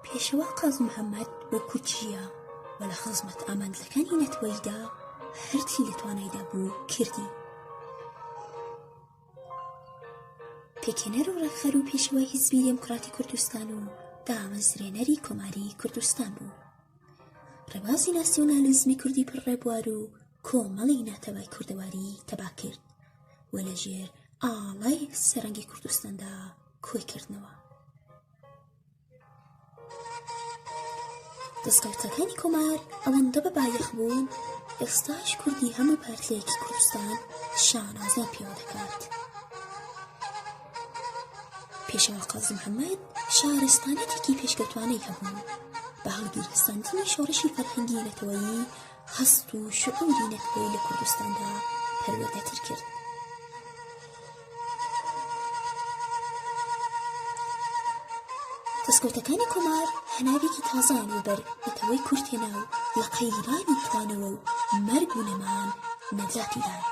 پێشەوا قاز محەممەد وەکو چییە و لە خزمەت ئامانجەکانی نەتوەیدا هەرچی لە توانایدا بوو کردی پێکێنەر و ڕێکخەر و پێشوای هیزبی دێموکراتی کوردستان و دامەزرێنەری کۆماری کوردستان بوو ڕێبازی ناسیۆنالیزمی کوردی پڕڕێبوار و کۆمەڵی ناتەوای کوردەواری تەبا کرد و لەژێر ئاڵای سەرەنگی کوردستاندا کۆی کردنەوە دەستکەوتەکانی کۆمار ئەوەندە بە بایەخ بوون ئێستاش کوردی هەموو پارتلەیەکی کوردستان شانازە پێوە دەکات پێشەوە قازی محەممەد شارستانێتێکی پێشکەوتوانەی هەبوو بە هەڵگیرەسەندنی شۆڕشی فەرهەنگی نەتەوەیی هەست و شعوری نەتەوەی لە کوردستاندا پەروەردەتر کرد. دەستکەوتەکانی کۆمار هەناوێکی تازەیان وبەر نەتەوەی کورد هێنا و لە قەیرانی کتانەوە و مەرگ و نەمان نەجاتیدان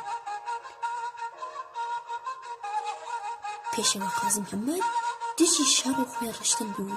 پێشەوە قازم محەممەد دژی شەڕ و خوێنڕشتن بوو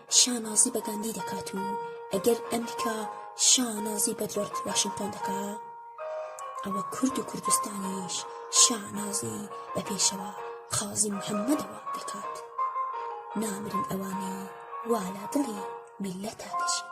شانازی بە گاندی دەکات و ئەگەر ئەمریکا شانازی بە جۆرج واشنگتۆن دەکا ئەوە کورد و کوردستانیش شانازی بە پێشەوە قازی محەممەدەوە دەکات نامرن ئەوانەی والا دڵی میلەتا دەشێت